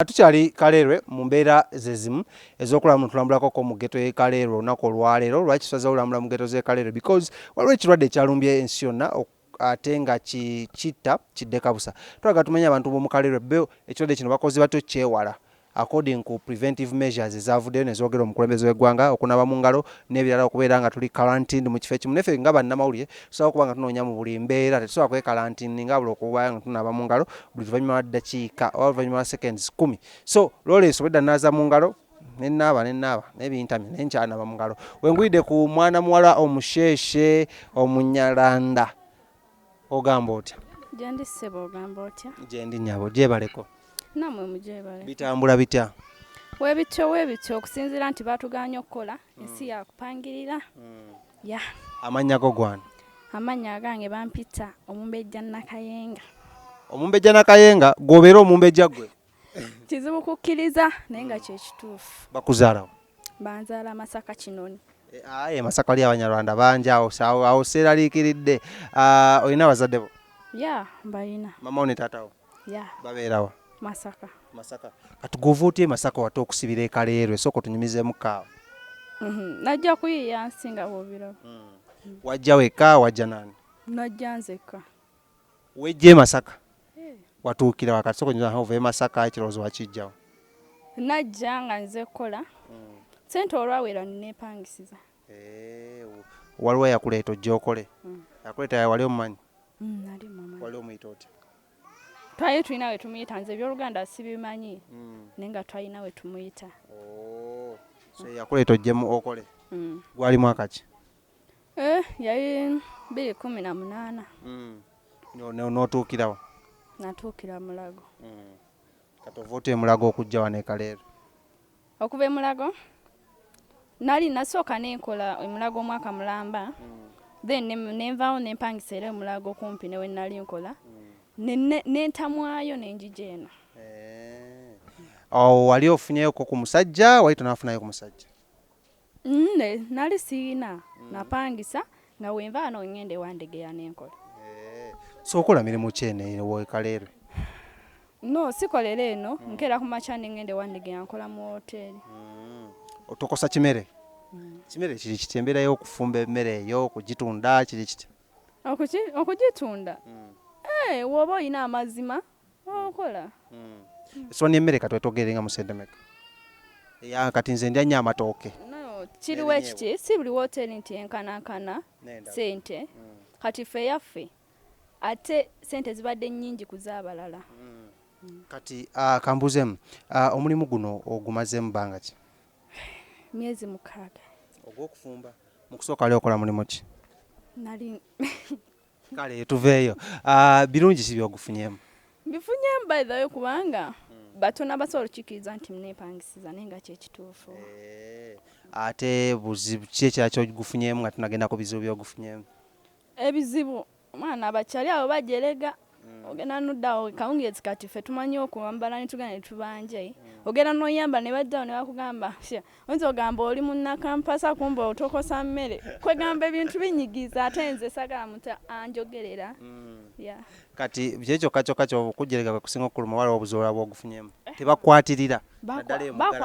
Nga tukyali Kaleerwe mu mbeera ze zimu ez'okulaba mu tulambulako ko mu geto y'e Kaleerwe olunaku olwaleero. Lwaki tusazeewo olambula mu geto z'e Kaleerwe? Because waliwo ekirwadde ekyalumbye ensi yonna ate nga kitta kidde kabusa. Twagala tumenye abantu b'omu Kaleerwe bo ekirwadde kino bakoze batya okyewala according ku preventive measures ezavuddeyo ne zoogera omukulembeze w'eggwanga, okunaaba mu ngalo n'ebirala okubeera nga tuli quarantined mu kifo ekimu. Naffe nga bannamawulire Tusobola okuba nga tunoonya mu buli mbeera, tetusobola kwekalantiininga wabula okubayo nga tunaaba mu ngalo buli luvannyuma lwa ddakiika oba oluvannyuma lwa seconds kkumi. So looleeso obwedda nnaaza mu ngalo ne nnaaba ne nnaaba naye bintamye naye nkyanaaba mu ngalo. We ngwidde ku mwana muwala omusheeshe Omunyalanda ogamba otya? Gyendi ssebo ogamba otya? Gyendi nnyabo gyebaleko. Nammwe mugyebale. Bitambula bitya? Webityo webityo okusinziira nti baatugaanye okukola ensi yakupangirira. Yeah. Amannya go gwani? Amannya agange bampita Omumbejja Nakayenga. Omumbejja Nakayenga gwobeera omumbejja gwe? Kizibu kukkiriza naye nga kyekituufu. Bakuzaalawo? Banzaala Masaka Kinoni. Eh, aye Masaka wali Abanyarwanda bangi awo awo seeraliikiridde. Ah, olina abazadde bo? Yeah, mbalina. Mama wo ne taata wo? ya babeerawa masaka masaka kati gwova otya emasaka wate okusibira ekaleerwe sooka otunyumizemu kaawa mhm. najja kuyiiya nsi nga bwobiraba hmm. wajja wekka wajja nani najja nzekka wejja emasaka eh. watuukira wakati sooka onyuza hova emasaka ekirowoozo wakijjawo najja nga nze kukola hmm. sente olwawera nepangisiza Eeh, waliwo eyakuleeta ojja okole? Mm. Yakuleeta yawali omumanyi? Mm, nali mumanyi. Wali omuyita otya? Twali tulina we tumuyita, nze eby'oluganda sibimanyi mm. naye nga twalina we tumuyita. Oh, so yakuleeta ojjemu okole? Mm. Gwali mwaka ki? Eh, yali biri kumi na munaana. Mm. N'otuukirawo? Natuukira Mulago. Mm. Kati ova otya e Mulago okujja wano e Kaleerwe? okuva emulago nali nasooka nenkola emulago omwaka mulamba mm. then nenvaawo nempangisa era emulago kumpi newe nali nkola mm. nentamwayo nenjija eno eh. awo wali ofunyeyoko ku musajja wali tonafunayo ku musajja Nne nali siyina mm. napangisa nga wenva ano ngende wandegeya nenkola eh, so okola mirimu ki eno ewekalerwe no sikolera eno mm. nkera ku makya nengende wandegeya nkola mu woteri mm. otokosa kimere mm. kimere kiri kiti embeera y'okufumba emmere eyo okugitunda kiri kiti okugitunda mm. hey, eh, woba olina amazima okola hmm. esowani emmere katwetogere nga musente meka eya kati nze ndya nnyo amatooke kiriwo ekiti si buli woteeri nti enkanankana sente hmm. kati ffe yaffe ate sente zibadde nnyingi ku z'abalala hmm. kati ah, kambuzeemu ah, omulimu guno ogumazeemu banga ki myezi mukaaga ogwokufumba mu kusooka ali okola mulimu ki nali kale tuveeyo ah, birungi ki byogufunyemu mbifunyemu by the way kubanga hmm. batona basobola okukikiriza nti mnepangisiza naye nga kyekituufu eh, ate buzibu ki ekira kyogufunyemu nga tunagenda ku bizibu byogufunyemu ebizibu omwana abakyali abo bajerega hmm. ogenda noddawo kawungeezi kati ffe tumanyi okwambala netugenda netubanja hmm. ogenda noyamba nebajjawo nebakugamba oyinza ogamba oli munnakampasa kumba otokosa mmere kwegamba ebintu binyigiza ate nze sagala muta anjogerera mm. kati kyekyokka kyokka kyokujerega kwekusinga okuluma waliwo obuzola bwogufunyemu eh. tebakwatirira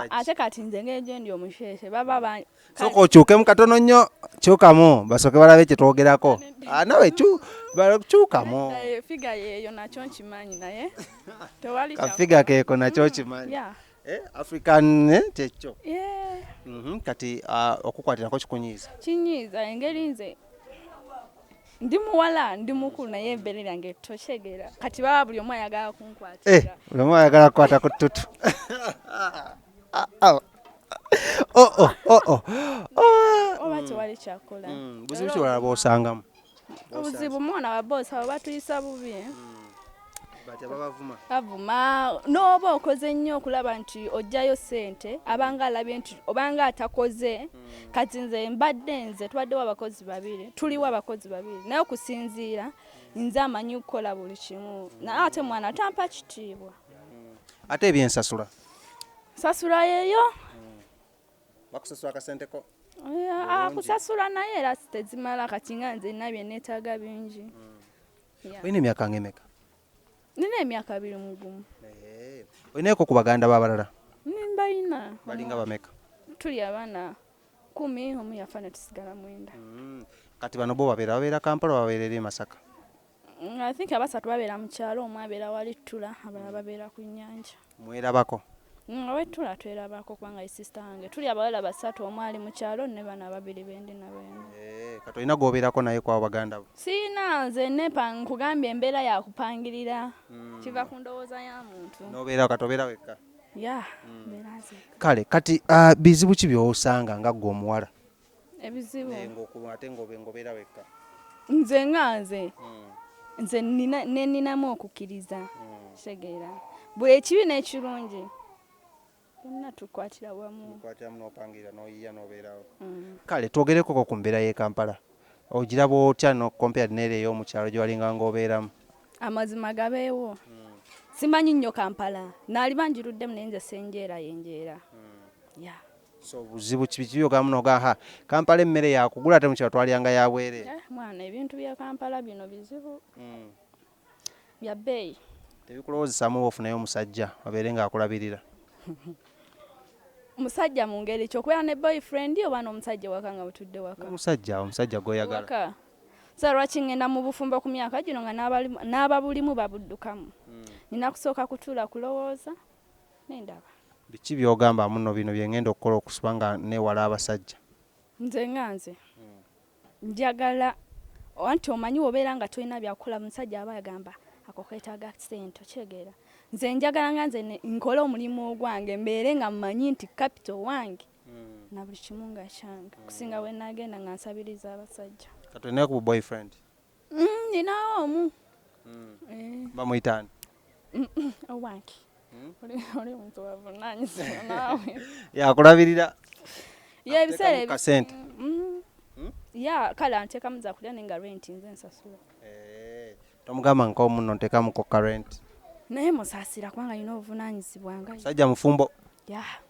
ate kati nze ngejendi omusheshe baba mm. soka okyukemu katono nnyo kyukamu basoke balabe kyetwogerako ah, nawe kyukamu eh, figa yeyo nakyo nkimanyi naye tewali kafiga keeko nakyo nkimanyi Eh, african eh, kyekyo yeah. mm -hmm. kati uh, okukwatirako kikunyiiza kinyiiza engeri nze ndi muwala ndi mukulu naye ebbere lyange tokyegera kati baba buli omu ayagala kunkwatira eh, buli omu ayagala kukwata ku ttutu ah, ah. oh, oh, oh, oh. oh. oba tewali kyakola mm, buzibu kiwalala bwosangamu obuzibu mwana wa boss abo batuyisa bubi eh? hmm. bavuma n'oba okoze nnyo okulaba nti ojjayo sente abanga alabye nti obanga atakoze hmm. kati nze mbadde nze tubaddewo abakozi babiri tuliwo abakozi babiri naye okusinziira nze amanyi okukola buli kimu naye ate mwana tampa kitiibwa hmm. ate ebyensasula sasula yeyo bakusasula akasente ko akusasula ah, naye era tezimala kati nga nze nina byenetaaga bingi hmm. olina emyaka nga emeka nina emyaka abiri mugumu eh, olinaeko ku baganda babalala nimbalina balinga bameka tuli abaana kumi omu yafa netusigala mwenda hmm. kati bano bo babeera babeera kampala babeera eri e masaka Mm, I think abasatu babeera mu kyalo, omu abeera wali ttula, abalala babeera ku nnyanja. Mwerabako? Nga mm, wettula twerabako kubanga ye sisita wange. Tuli abawala basatu, omu ali mu kyalo ne bana babiri bendi nabo eno. Eh, kati olina gw'obeerako naye kwabo baganda bo? Sirina nze nepa nkugambye embeera ya kupangirira. Mm. Kiva ku ndowooza ya muntu. N'obeera kati obeera wekka? Ya, mbeera nze. Kale kati ah, bizibu ki by'osanga nga ggwe omuwala? ebizibu naye ng'okulwa ate ng'obeera wekka nze nga nze hmm. nze neninamu okukkiriza hmm. kitegeera buli ekibi n'ekirungi byonna tukwatira wamu tukwatiramu n'opangira n'oyiya n'obeerawo hmm. kale twogerekoko ku mbeera y'e kampala ogiraba otya no compared neera ey'omukyalo gye walinga ng'obeeramu amazima gabeewo simanyi nnyo kampala naali bangiruddemu naye nze senjeera yenjeera ya so buzibu kibi kibi ogamba muno ogamba ha kampala emmere yakugula ate mukyalo twalyanga ya bwere eh, mwana ebintu bya kampala bino bizibu mm. bya bbeeyi tebikulowoozesamu oba ofunayo omusajja abeere ng'akulabirira musajja mu ngeri ki okubeera ne boyfriend oba n'omusajja waka nga butudde waka omusajja omusajja gwoyagala sa lwaki ngenda mu bufumbo ku myaka gino nga n'ababulimu babuddukamu hmm. nina kusooka kutuula kulowooza nendaba. Biki byogamba muno bino byengenda okukola okusiba nga newala abasajja. Nze nga nze njagala anti omanyi wobera nga tolina byakukola omusajja aba agamba ako ketaga sente okitegeera nze njagala nga nze nkole omulimu ogwange mbeere nga mmanyi nti kapito wange hmm. na buli kimu nga kyange okusinga wenagenda nga nsabiriza abasajja katulinayo ku boyfriend Mm, ninawo omu mm. eh. bamuyitaani owange hmm? oli muntu wavunanyizibwa naawe yakulabirira ye ebiseera ebikasente mm. hmm? ya kale antekamu zakulya naye nga renti nze nsasula eh, tomugamba nkomuno ntekamu koka renti naye musasira kubanga alina obuvunanyizibwa nga musajja mufumbo ya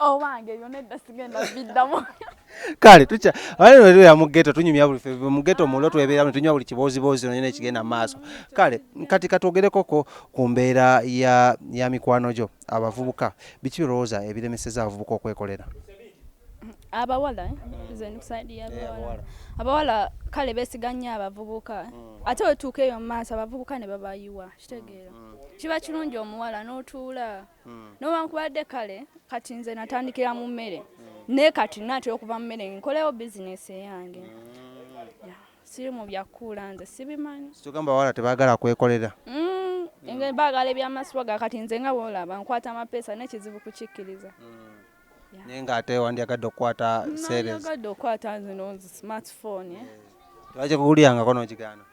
owange ebyo nedda sigenda biddamu kale tukya waliwetuya mu geto tunyumya buli febe mu geto mulo twebeera mu tunywa buli kibooziboozi nonyina ekigenda mu maaso kale kati katwogerekoko ku mbeera ya, ya mikwano gyo abavubuka biki birowooza ebiremeseza abavubuka okwekolera abawala eh? mm. abawala kale besiga nnyo abavubuka mm. ate wetuuka eyo mu maaso abavubuka ne babayiwa kitegeera mm, kiba kirungi omuwala n'otuula hmm. nowankubadde kale kati nze natandikira mu mmere hmm. naye kati natera okuva mu mmere nkolewo bizinesi eyange hmm. siri mu byakuula nze sibimanyi tugamba bawala tebagala kwekolera nga bagala ebyamasiwa ga kati nze nga bwolaba nkwata amapeesa nekizibu kukikkiriza naye nga ate wandyagadde okukwata seereyagadde okukwata nzino smartphone eh? tebakikuwulirangako nokigaana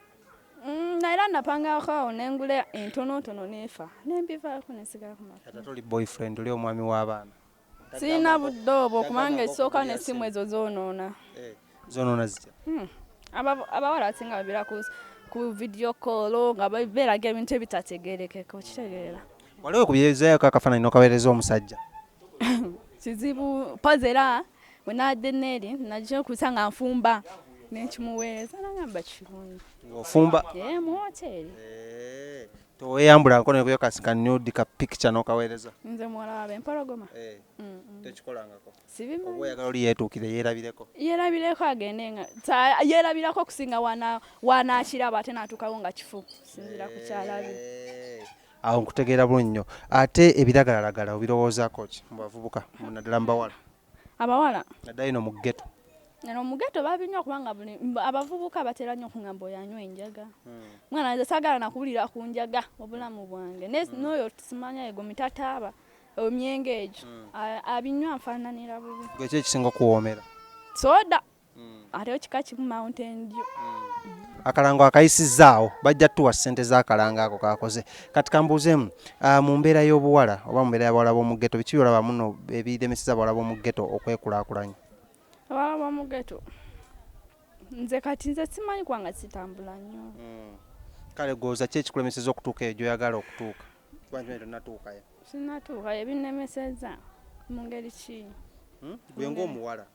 Mm, na era napangako awo nengula entonotono nefa nembivaako nensigala ku maka. Kati toli boyfriend oli omwami w'abaana. Sirina budde obwo kubanga esooka n'essimu ezo zoonoona. Eh, zoonoona zitya? Hmm. Abawala abasinga babeera ku video call nga beeraga ebintu ebitategeerekeka okitegeera. Waliwo ku byezaayoko akafaananyi n'okaweereza omusajja? Kizibu pazi era bwe nabadde neeri najja okuza nga nfumba nenkimuweereza nagamba kirungi ofumba ee mu woteeri eh, toweyambula nkono nekuyo kasikanudi ka picture nokaweereza nze muwala wabe mpologoma eh, tekikolangako sibimanyi oyagala oli yeetuukire yeerabireko yeerabireko agende nga yeerabirako okusinga wanakiraba ate natuukawo nga kifu sinzira kukyalabi eh, Awo nkutegeera bulungi nnyo. Ate ebiragalalagala obirowoozaako ki mu bavubuka naddala mu bawala? Abawala naddala eno mu ghetto. Eno mu ghetto babinywa kubanga buli abavubuka batera nnyo okungamba oyo anywa enjaga. Hmm. Mwana nze saagala nakuwulira ku njaga obulamu bwange. Hmm. N'oyo simanya ego mitataaba omyenge egyo hmm. abinywa nfaananira bubi. Gwe ki ekisinga okuwoomera? Soda. ate kika kimu mountain dew akalango akayisizzaawo bajja tuwa ssente z'akalango ako kaakoze kati kambuuzeemu ah, mu mbeera y'obuwala oba mu mbeera y'abawala b'omu ghetto biki byolaba muno ebiremeseza abawala b'omu ghetto okwekulaakulanya abawala b'omu ghetto nze kati nze simanyi kubanga sitambula nnyo hmm. kale gwoza ki ekikulemeseza okutuuka eyo gy'oyagala okutuuka kubantinatuukayo sinatuukayo ebinemeseza mu ngeri ki hmm? gwe ng'omuwala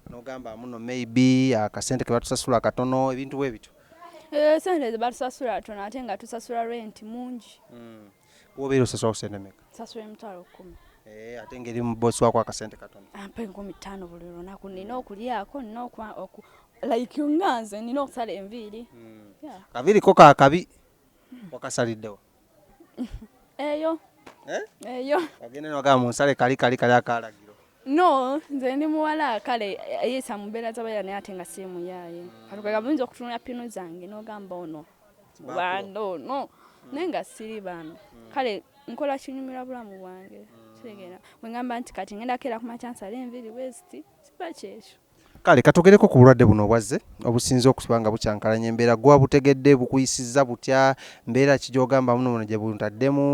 nogamba muno maybe akasente kebatusasula katono ebintu bwebityo eh, sente zebatusasula tono ate nga tusasula rent mungi mm. wobeera osasula kusente meka sasula emitwalo kumi Eh, ate ngeri mubosi wako akasente katono ampa ah, enkumi ttaano buli lunaku nina okulyako nina like nga nze nina okusala enviiri hmm. kaviiriko kakabi wakasaliddewo eyo eh? eyo agenda nogaa mu nsale kali kali kali akalagiro no nze ndi muwala kale ayisa mu mbeera z'abaira naye ate nga si muyaaye katukaga buyinza okutunula pinu zange n'ogamba ono banda ono naye nga siri bano kale nkola kinyumira bulamu bwange kitegeera bwe ngamba nti kati ngenda keera ku makyansala enviri wesiti kiba kyekyo kale katogereko ku bulwadde buno obwazze obusinze okusiba nga bukyankalanya embeera gwa butegedde bukuyisizza butya mbeera ki gyogamba muno muno gye buntaddemu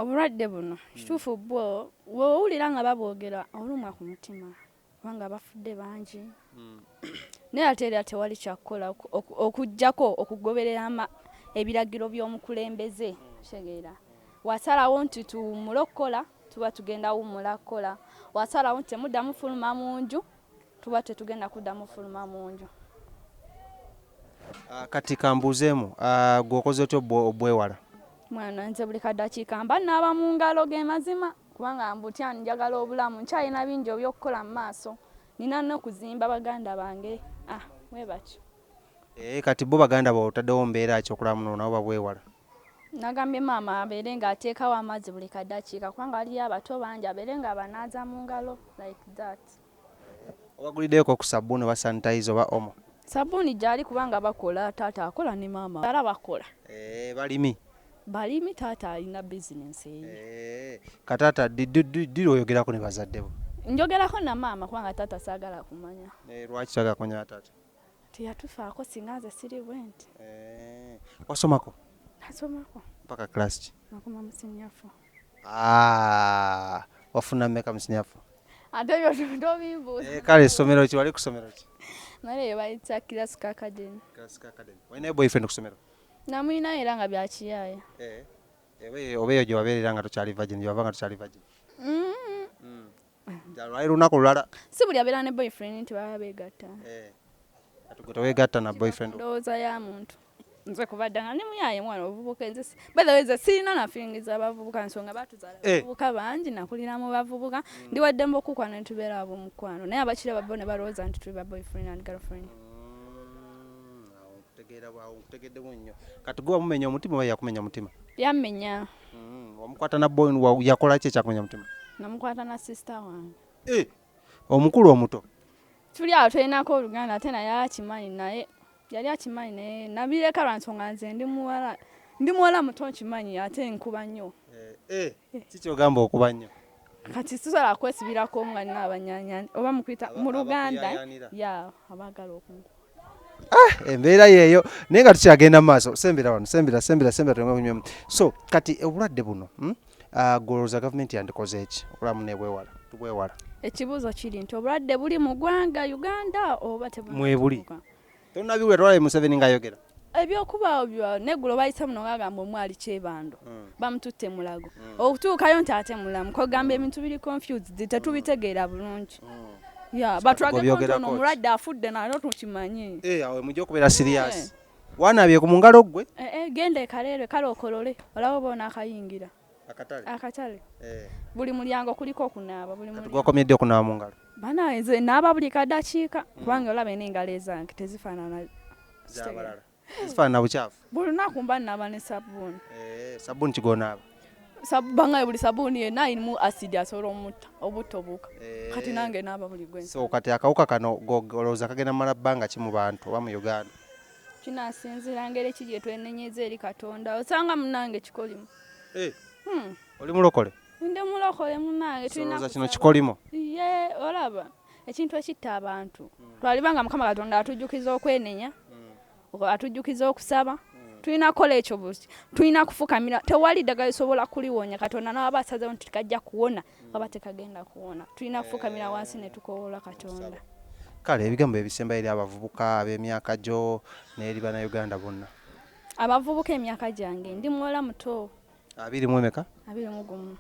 obulwadde buno kituufu bwo wowulira nga babwogera olumwa ku mutima kubanga bafudde bangi hmm. naye ate era tewali kyakukola okugjako okugoberera ebiragiro by'omukulembeze tegeera wasalawo nti tuwumule okukola Tuba tugenda wummula kukola. Wasalawo nti temuddamu fuluma mu nju, tuba tetugenda kuddamu fuluma mu nju. Ah, kati kambuuzeemu, ah, gwe okoze otya obwewala? Mwana nze buli kadakiika mba naaba mu ngalo ge mazima kubanga mbutya njagala obulamu nkyalina bingi ebyokukola mu maaso nina nokuzimba baganda bange ah webatyo ee eh, kati bo baganda bo otaddewo mbeera ki okulaba muno nabo babwewala Nagambye maama abeere nga ateekawo amazzi buli kadakiika kubanga waliyo abato bangi abeere nga abanaaza mu ngalo like that. Obaguliddeko ku sabbuuni oba sanitizer oba omo? Sabbuuni gyali kubanga bakola taata akola ne maama era bakola. Eeh balimi? Balimi taata alina business ye. Eeh ka taata ddi lwoyogerako ne bazadde bo? Njogerako na maama kubanga taata saagala kumanya. Eeh lwaki toyagala kumanya na taata? teyatufaako singa nze siri bwenti eh, wasomako nasomako mpaka class ki nakoma musinyafu ah, wafuna meka musinyafu ate byo tobimbuuza eh, kale somero ki wali kusomero ki nale yo bayita classic academy classic academy wayina boyfriend kusomero namuyina era nga byakiyaaya eh, oba eyo gye wabeerera nga tokyali virgin gyewava nga tokyali virgin mm. Lwali lunaku lulala. Si buli abeera ne boyfriend nti baba beegatta. Eh, kati gwe teweegatta na boyfriend. Ndowooza ya muntu. nze kubadde nga ndi muyaaye mwana obuvubuka enze by the way nze sirina na feeling za bavubuka nsonga batuzaala eh. bavubuka bangi nakulira mu bavubuka mm. ndi wadde mbokukwana ne tubeera abo mukwano naye abakira babbo ne balowooza nti tuli ba boyfriend and girlfriend mm, Tegeera bwawo nkutegeddewo nnyo. Kati gwe wamumenya omutima oba yakumenya omutima? Yammenya. Mm, wamukwata na boy wa yakola ki ekyakumenya omutima? Namukwata na sister wange. Eh, omukulu omuto. Tuli awo tulinako oluganda ate naye akimanyi naye yali akimanyi naye nabireka lwa nsonga nze ndi muwala ndi muwala muto nkimanyi ate nkuba nnyo. Eh, eh. Kiki ky'ogamba okuba nnyo? kati sisobola kwesibirako nga nina abanyanya oba mukuyita mu luganda ya abaagala okunku ah, embeera yeeyo naye nga tukyagenda mu maaso sembera wano sembera sembera sembera tulenga kunywamu so kati obulwadde buno hmm? ah, golowooza gavumenti yandikoze eki okulamu nebwewala tubwewala ekibuuzo kiri nti obulwadde buli mu ggwanga uganda oba mwebuli Tonabiwulira twalabe Museveni nga ayogera. Ebyokuba byo negulo bayise muno ngagamba omwali kyebando. Mm. Bamututte mulago. Mm. Okutuukayo nti ate mulamu. Ko gamba mm. ebintu biri confused tetubitegeera bulungi. Mm. Yeah, but ragakotona mulwadde afudde nalo tukimanyi. Eh, awe mujja okubeera serious. Eh. Wanabye ku mungalo gwe. Eh, eh, genda ekalere kale okolole. Olaba bona akayingira. akatale akatale eh. buli mulyango kuliko okunaaba buli mulyango gwakomyedde okunaaba mu ngalo bana nze naaba buli kadakiika mm. kubanga olaba ena engalo ezange tezifaanana zabalala zifaanana bukyafu buli lunaku mba naaba ne sabbuuni eh, sabbuuni kigonaaba bangaye buli sabuni yena irimu asidi asobola omutta obutta obuuka eh. kati nange naaba buli gwensi so kati akawuka kano golowoza kagenda mala bbanga ki mu bantu oba mu uganda kinasinzira ngeri ki gye twenenyeza eri katonda osanga munange kikolimo eh. hmm. oli mulokole ndi mulokole munange tulina kino kikolimo ye olaba ekintu ekitta abantu hmm. twaliba nga mukama katonda atujjukiza okwenenya hmm. atujjukiza okusaba hmm. tulina kukola ekyo buti tulina kufukamira tewali ddagala lisobola kuliwonya katonda nawaba asazewo nti kajja kuwona oba tekagenda kuwona tulina eh, kufukamira wansi ne tukowoola katonda kale ebigambo ebisembayo eri abavubuka ab'emyaka gyo n'eri bannayuganda bonna abavubuka emyaka gyange ndi muwala muto abiri mu emeka abiri mu gumu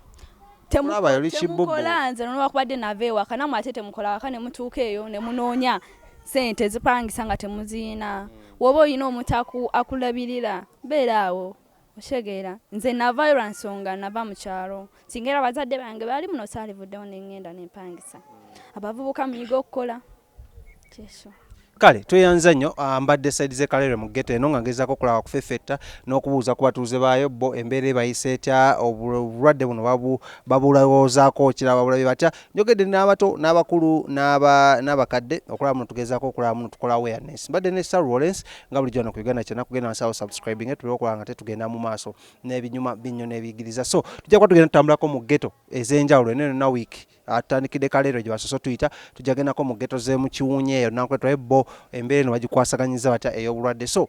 temukola nze nolwakubadde nava ewaka namwe ate temukola waka ne mutuuka eyo ne munoonya sente zipangisa nga temuziina woba olina omuntu akulabirira beera awo Okitegeera nze navaayo lwa nsonga nava mu kyalo singa era abazadde bange baali muno saalivuddewo ne ŋŋenda ne mpangisa abavubuka muyige okukola kyekyo. Kale tweyanza nnyo ah, mbadde side ze Kalere mu ghetto eno nga ngezaako okulaba kufeffetta n'okubuuza ku batuuze baayo bo embeera ebayisa etya obulwadde buno babu babulowoozaako kiraba bulabe batya njogedde n'abato n'abakulu n'abakadde okulaba muno tugezaako okulaba muno tukola awareness mbadde ne star rollens nga bulijjo wano ku uganda kyena kugenda wansi awo subscribing tube okulaba nga tetugenda mu maaso n'ebinyuma binnyo n'ebiyigiriza so tujja kuba tugenda tutambulako mu ghetto ez'enjawulo eno yonna week atandikidde kaleero gye basoose tuyita tujja gendako mu ghetto z'emukiwunya eyo nankwe twaye bo embeera eno bagikwasaganyiza batya ey'obulwadde so